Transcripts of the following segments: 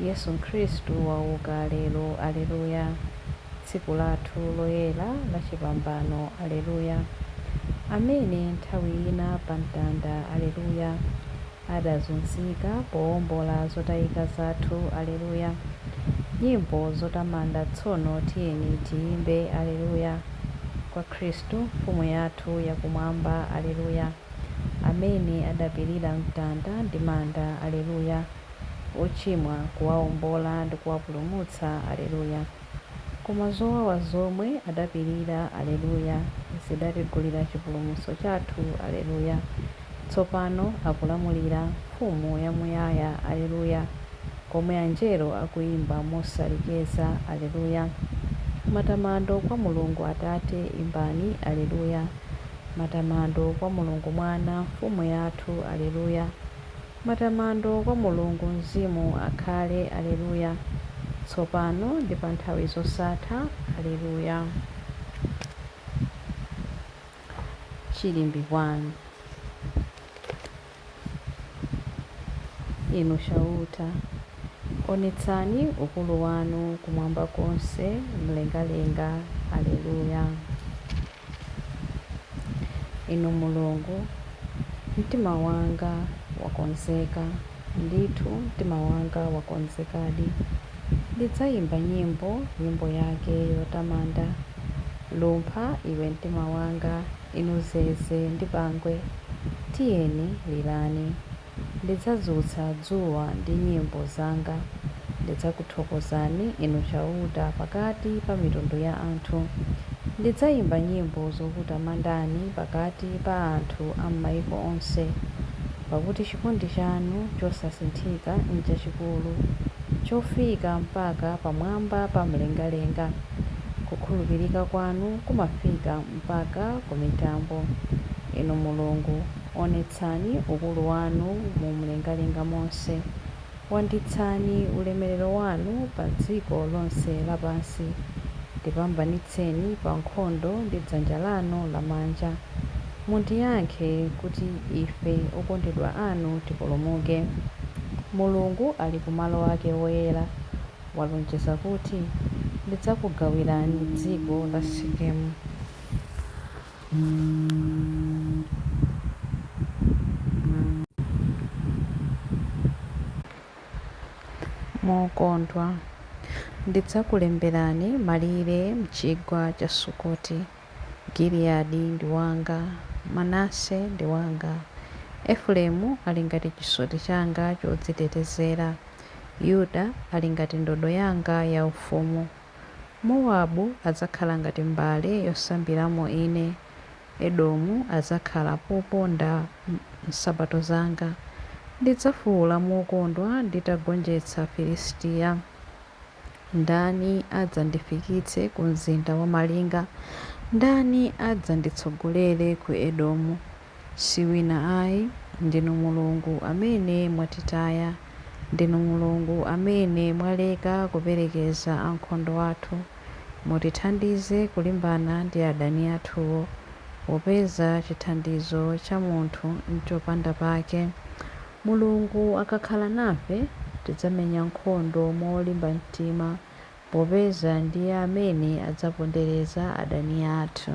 Yesu Khristu wauka lero! Aleluya! Tsiku lathu loyera lachipambano! Aleluya! Amene nthawi ina pa mtanda, aleluya, adazunzika powombola zotayika zathu, aleluya! Nyimbo zotamanda tsono tiyeni tiyimbe, aleluya, kwa Khristu Mfumu yathu ya Kumwamba, aleluya, amene adapirira mtanda ndi manda, aleluya! ochimwa, kuwaombola ndi kuwapulumutsa, Aleluya! Koma zowawa zomwe adapirira, Aleluya, zidatigulira chipulumutso chathu, Aleluya! Tsopano akulamulira, Mfumu yamuyaya, Aleluya! Komwe Angelo akuimba mosalekeza, Aleluya! Matamando kwa Mulungu Atate, imbani, Aleluya! Matamando kwa Mulungu Mwana, Mfumu yathu, Aleluya! Matamando kwa Mulungu Mzimu akhale, Aleluya, tsopano ndi pa nthawi zosatha. Aleluya. Chilimbi 1 Inu Chauta, onetsani ukulu wanu kumwamba konse, m'mlengalenga. Aleluya. Inu Mulungu, mtima wanga wakonzeka, ndithu mtima wanga wakonzekadi. Ndidzaimba nyimbo, nyimbo yake yotamanda. Lumpha, iwe mtima wanga, inu zeze ndi pangwe, tiyeni, lirani. Ndidzadzutsa dzuwa ndi nyimbo zanga. Ndidzakuthokozani, Inu Chauta, pakati pa mitundu ya anthu. Ndidzaimba nyimbo zokutamandani pakati pa anthu a m'maiko onse. Pakuti chikondi chanu chosasinthika nchachikulu, chofika mpaka pamwamba pa mlengalenga. Kukhulupirika kwanu kumafika mpaka ku mitambo, Inu Mulungu. Onetsani ukulu wanu mu mlengalenga monse, wanditsani ulemerero wanu pa dziko lonse lapansi, ndipambanitseni pa nkhondo ndi dzanja lanu lamanja, mundiyankhe, kuti ife okondedwa anu tipulumuke. Mulungu ali ku malo ake oyera, walonjeza kuti, Ndidzakugawirani dziko la Sekemu. mokondwa. Ndidzakulemberani malire m'chigwa cha Sukoti. Giliyadi ndi wanga, Manase ndi wanga. Efuraimu ali ngati chisoti changa chodzitetezera. Yuda ali ngati ndodo yanga yaufumu. Mowabu adzakhala ngati mbale yosambiramo Ine, Edomu adzakhala poponda nsapato zanga. Ndidzafuula mokondwa nditagonjetsa Filisitiya. Ndani adzandifikitse ku mzinda wamalinga? Ndani adzanditsogolere ku Edomu? Si wina ayi, ndinu Mulungu amene mwatitaya, ndinu Mulungu amene mwaleka kuperekeza ankhondo athu, mutithandize kulimbana ndi adani athuwo, popeza chithandizo cha munthu n'chopanda pake. Mulungu akakhala nafe, tidzamenya nkhondo molimba mtima, popeza ndiye amene adzapondereza adani athu.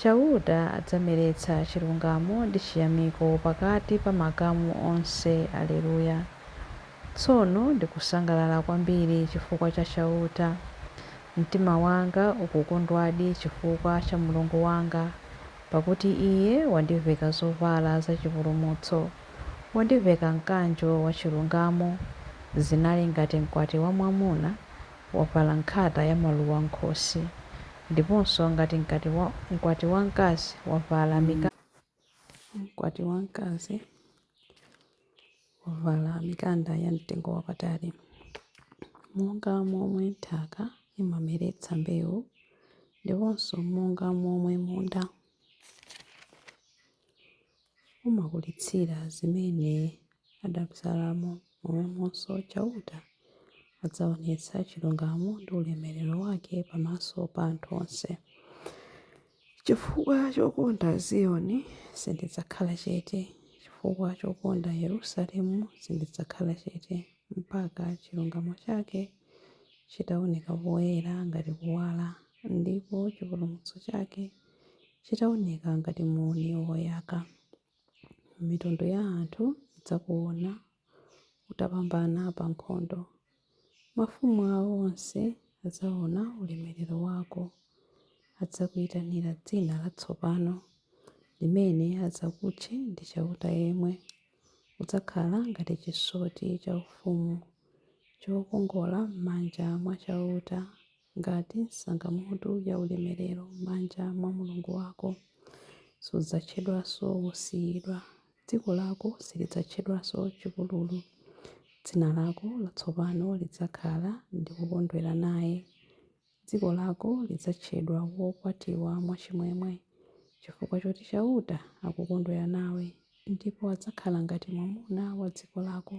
Chauta adzameretsa chilungamo ndi chiyamiko pakati pa makamu onse. Aleluya, Tsono ndikusangalala kwambiri chifukwa cha Chauta. Mtima wanga ukukondwadi chifukwa cha Mulungu wanga, pakuti Iye wandiveka zovala zachipulumutso, wandiveka mkanjo wachilungamo. Zinali ngati mkwati wamwamuna wavala nkhata yamaluwa m'khosi, Ndiponso ngati mkwati wa, mkwati wamkazi wavala mikanda. Mkwati wamkazi wavala mikanda ya mtengo wapatali. Monga momwe nthaka imameretsa mbewu ndiponso monga momwe munda. umakulitsira zimene adabzalamo, momwemonso Chauta adzaonetsa chilungamo ndi ulemerero wake pamaso pa anthu onse. Chifukwa chokonda Ziyoni, sindidzakhala chete, chifukwa chokonda Yerusalemu, sindidzakhala chete, mpaka chilungamo chake chitaoneka poyera ngati kuwala, ndipo chipulumutso chake chitaoneka ngati muuni woyaka. Mitundu ya anthu idzakuona utapambana pa nkhondo. Mafumu awo onse adzaona ulemerero wako. Adzakuitanira dzina latsopano, limene adzakutche ndi Chauta yemwe. Udzakhala ngati chisoti chaufumu, chokongola m'manja mwa Chauta. Ngati nsangamutu ya ulemerero m'manja mwa Mulungu wako, sudzatchedwanso wosiyidwa, dziko lako silidzatchedwanso chipululu. Dzina lako latsopano lidzakhala Ndikukondwera naye. Dziko lako lidzatchedwa Wokwatiwa mwachimwemwe, chifukwa choti Chauta akukondwera nawe. Ndipo adzakhala ngati mwamuna wa dziko lako,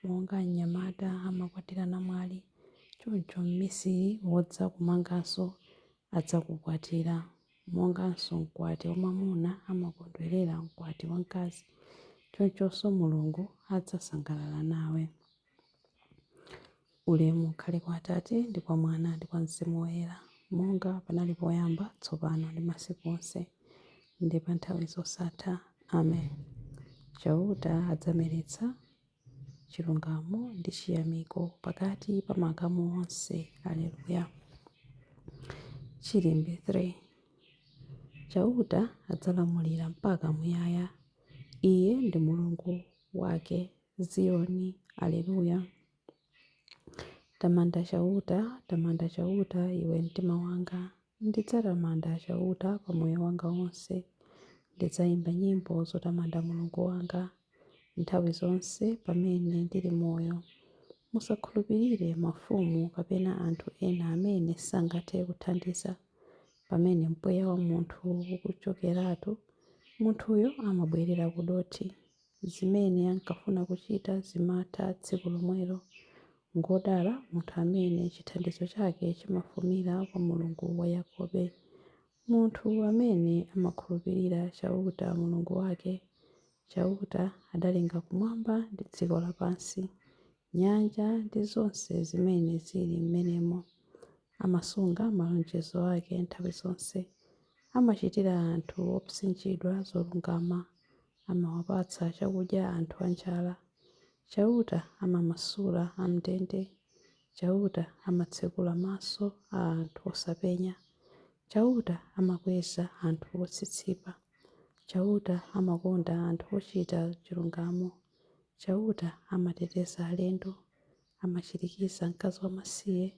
monga mnyamata amakwatira namwali, choncho mmisiri wodzakumanganso adzakukwatira, monganso mkwati wamwamuna amakondwerera mkwati wamkazi, chonchonso Mulungu adzasangalala nawe. Ulemu ukhale kwa Atate, ndi kwa Mwana, ndi kwa Mzimu Woyera, monga panali poyamba, tsopano, ndi masiku onse, ndi pa nthawi zosatha. Amen. Chauta adzameretsa chilungamo ndi chiyamiko pakati pa makamu onse. Aleluya. Chilimbe 3 Chauta adzalamulira mpaka muyaya, Iye ndi Mulungu wake Ziyoni. Aleluya. Tamanda Chauta, tamanda Chauta, iwe mtima wanga. Ndidzatamanda Chauta pa moyo wanga wonse. Ndidzaimba nyimbo zotamanda Mulungu wanga nthawi zonse pamene ndili moyo. Musakhulupirire mafumu kapena anthu ena amene sangathe kuthandiza. Pamene mpweya wa munthu ukuchokeratu, munthuyo amabwerera kudothi. Zimene ankafuna kuchita zimatha tsiku lomwelo. Ngwodala munthu amene chithandizo chake chimafumira kwa Mulungu wa Yakobe. Munthu amene amakhulupirira Chauta, Mulungu wake. Chauta adalenga kumwamba ndi dziko lapansi, nyanja ndi zonse zimene zili m'menemo. Amasunga malonjezo ake nthawi zonse. Amachitira anthu opsinjidwa zolungama. amawapatsa chakudya anthu anjala. Chauta amamasula am'ndende. Chauta amatsekula maso a anthu osapenya. Chauta amakweza anthu otsitsipa. Chauta amakonda anthu ochita chilungamo. Chauta amateteza alendo. Amachirikiza mkazi wamasiye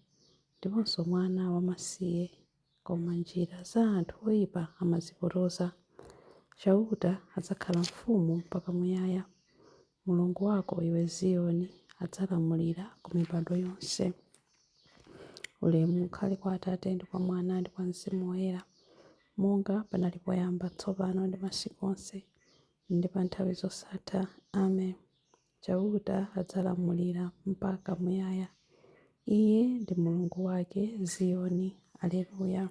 ndiponso mwana wamasiye. koma njira za anthu oipa amazipotoza. Chauta adzakhala mfumu mpaka muyaya, Mulungu wako, iwe Ziyoni, adzalamulira ku mibado yonse. Ulemu ukhale kwa Atate, ndi kwa Mwana, ndi kwa Mzimu Woyera, monga panali poyamba, tsopano, ndi masiku onse, ndi pa nthawi zosatha. Amen. Chauta adzalamulira mpaka muyaya, Iye ndi Mulungu wake Ziyoni. Alleluia.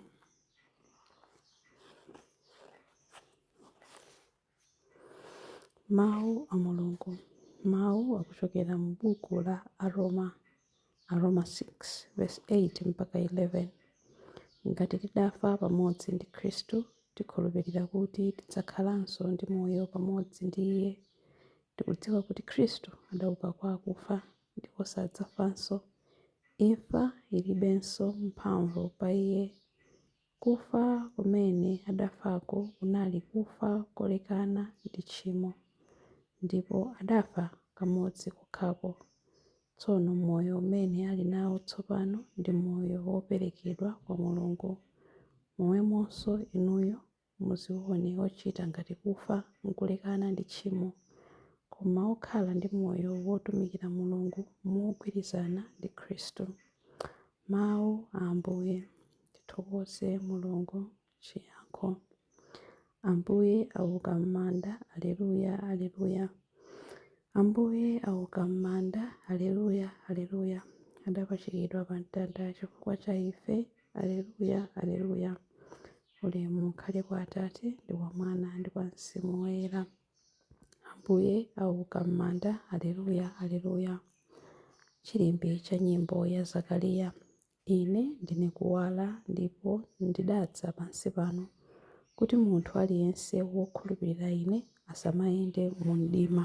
Mau a Mulungu Mau akuchokera mu buku la Aroma. Aroma 6 vesi 8 mpaka 11, Ngati tidafa pamodzi ndi Khristu, tikhulupirira kuti tidzakhalanso ndi moyo pamodzi ndi Iye. Tikudziwa kuti Khristu adauka kwa akufa, ndipo sadzafanso. Imfa ilibenso mphamvu pa Iye. Kufa kumene adafako kunali kufa kolekana ndi tchimo, ndipo adafa kamodzi kokhako. Tsono moyo umene ali nawo tsopano ndi moyo woperekedwa kwa Mulungu. Momwemonso inuyo muziwone ochita ngati kufa nkulekana ndi tchimo, koma okhala ndi moyo wotumikira Mulungu mogwirizana ndi Khristu. Mawu a Ambuye. Tithokoze Mulungu, chiyankho. Ambuye auka m'manda, Aleluya, Aleluya. Ambuye auka m'manda, Aleluya, Aleluya. Adapachikidwa pa mtanda chifukwa cha ife, Aleluya, Aleluya. Ulemu ukhale kwa Atate ndi kwa Mwana ndi kwa Mzimu Woyera. Ambuye auka m'manda, Aleluya, Aleluya. Chilimbi cha nyimbo ya Zakariya. Ine ndine Kuwala, ndipo ndidadza pansi pano kuti munthu aliyense wokhulupirira Ine asamayende mu mdima.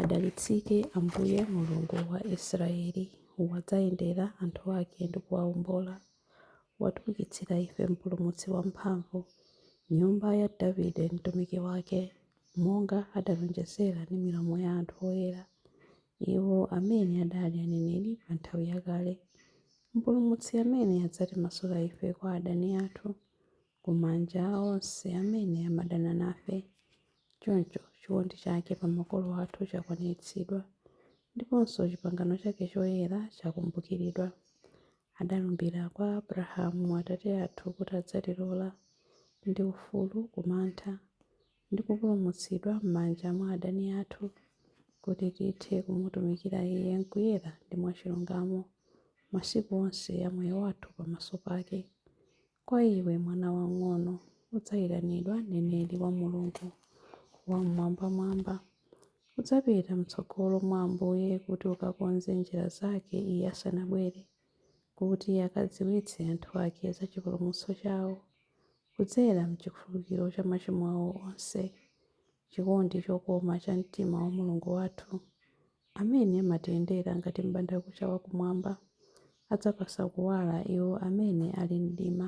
Adalitsike Ambuye Mulungu wa Israeli, wadzayendera anthu ake ndi kuwaombola. Watiukitsira ife mpulumutsi wamphamvu, nyumba ya Davide mtumiki wake, monga adalonjezera ndi milomo ya anthu oyera. Iwo amene adali aneneri pa nthawi yakale, Mpulumutsi amene adzatimasula ife kwa adani athu, ku manja a onse amene amadana nafe. Choncho, chikondi chake pa makolo athu chakwaniritsidwa, ndiponso chipangano chake choyera chakumbukiridwa. Adalumbira kwa Abrahamu atate athu kuti adzatilola, ndi ufulu ku mantha, ndi kupulumutsidwa m'manja mwa adani athu, kuti tithe kumutumikira Iye m'kuyera ndi mwachilungamo masiku onse a moyo wathu pamaso pake. Kwa iwe, mwana wang'ono, udzayitanidwa mneneri wa Mulungu Wammwambamwamba. Udzapita m'tsogolo mwa Ambuye kuti ukakonze njira zake Iye asanabwere. kuti akadziwitse anthu ake za chipulumutso chawo kudzera m'chikhululukiro cha machimo awo onse, chikondi chokoma cha mtima wa Mulungu wathu, amene amatiyendera ngati m'bandakucha wa kumwamba, adzapatsa kuwala iwo amene ali m'mdima.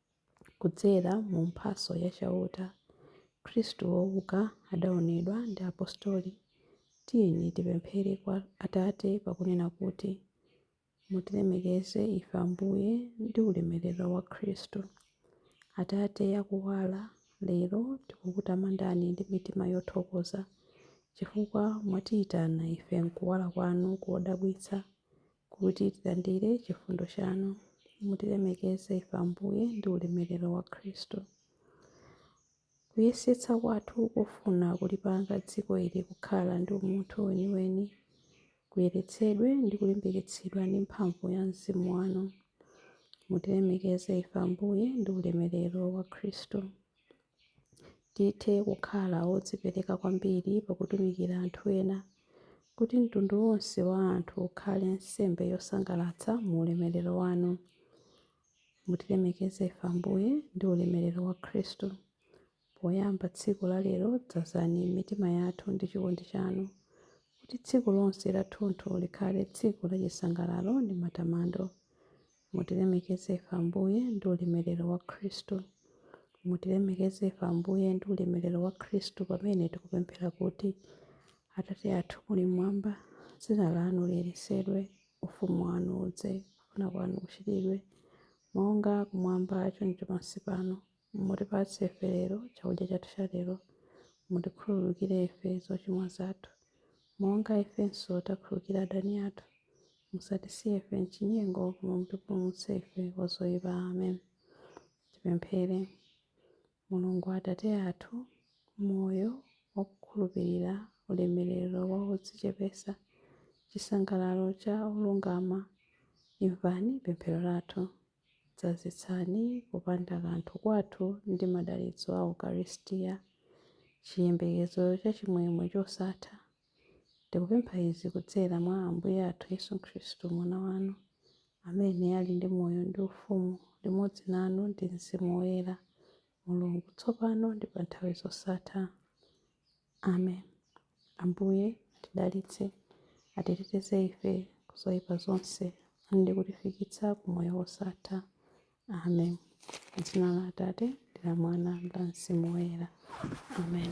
Kudzera mu mphatso ya Chauta, Khristu wouka adaonedwa ndi apostoli. Tiyeni tipemphere kwa Atate pakunena kuti, Mutilemekeze ife Ambuye ndi ulemerero wa Khristu. Atate a kuwala, lero tikukutamandani ndi mitima yothokoza chifukwa mwatiitana ife m'kuwala kwanu kodabwitsa kuti tilandire chifundo chanu. Mutilemekeze ife, Ambuye, ndi ulemerero wa Khristu. Kuyesetsa kwathu kofuna kulipanga dziko ili kukhala ndi umunthu weniweni kuyeretsedwe ndi kulimbikitsidwa ndi mphamvu ya mzimu wanu. Mutilemekeze ife, Ambuye, ndi ulemerero wa Khristu. Tithe kukhala odzipereka kwambiri pa kutumikira anthu ena, kuti mtundu wonse wa anthu ukhale nsembe yosangalatsa mu ulemerero wanu. Mutilemekeze ife, Ambuye, ndi ulemerero wa Khristu. Poyamba tsiku la lero dzazani mitima yathu ndi chikondi chanu, kuti tsiku lonse lathunthu likhale tsiku la chisangalalo ndi matamando. Mutilemekeze ife, Ambuye, ndi ulemerero wa Khristu. Mutilemekeze ife, Ambuye, ndi ulemerero wa Khristu pamene tikupemphera kuti, Atate athu muli mmwamba, dzina lanu liyeretsedwe, ufumu wanu udze, kufuna kwanu kuchitidwe, monga kumwamba choncho pansi pano. Mutipatse ife lero chakudya chathu cha lero. Mutikhululukire ife zochimwa zathu, monga ifenso takhululukira adani athu. Musatisiye ife m'chinyengo, koma mutipulumutse ife kwa zoyipa. Amen. Tipemphere. Mulungu Atate athu, moyo wa okhulupirira, ulemerero wa odzichepetsa, chisangalalo cha olungama, imvani pemphero lathu. Dzazitsani kupanda kanthu kwathu ndi madalitso a Ukaristiya, chiyembekezo cha chimwemwe chosatha. Tikupempha izi kudzera mwa Ambuye athu Yesu Khristu, Mwana wanu, amene ali ndi moyo ndi ufumu limodzi nanu ndi mzimu woyera, Mulungu, tsopano ndi pa nthawi zosatha. Amen. Ambuye atidalitse, atiteteze ife ku zoipa zonse, ndi kutifikitsa ku moyo wosatha. Amen. M'dzina la Atate, ndi la Mwana, ndi la Mzimu Woyera. Amen.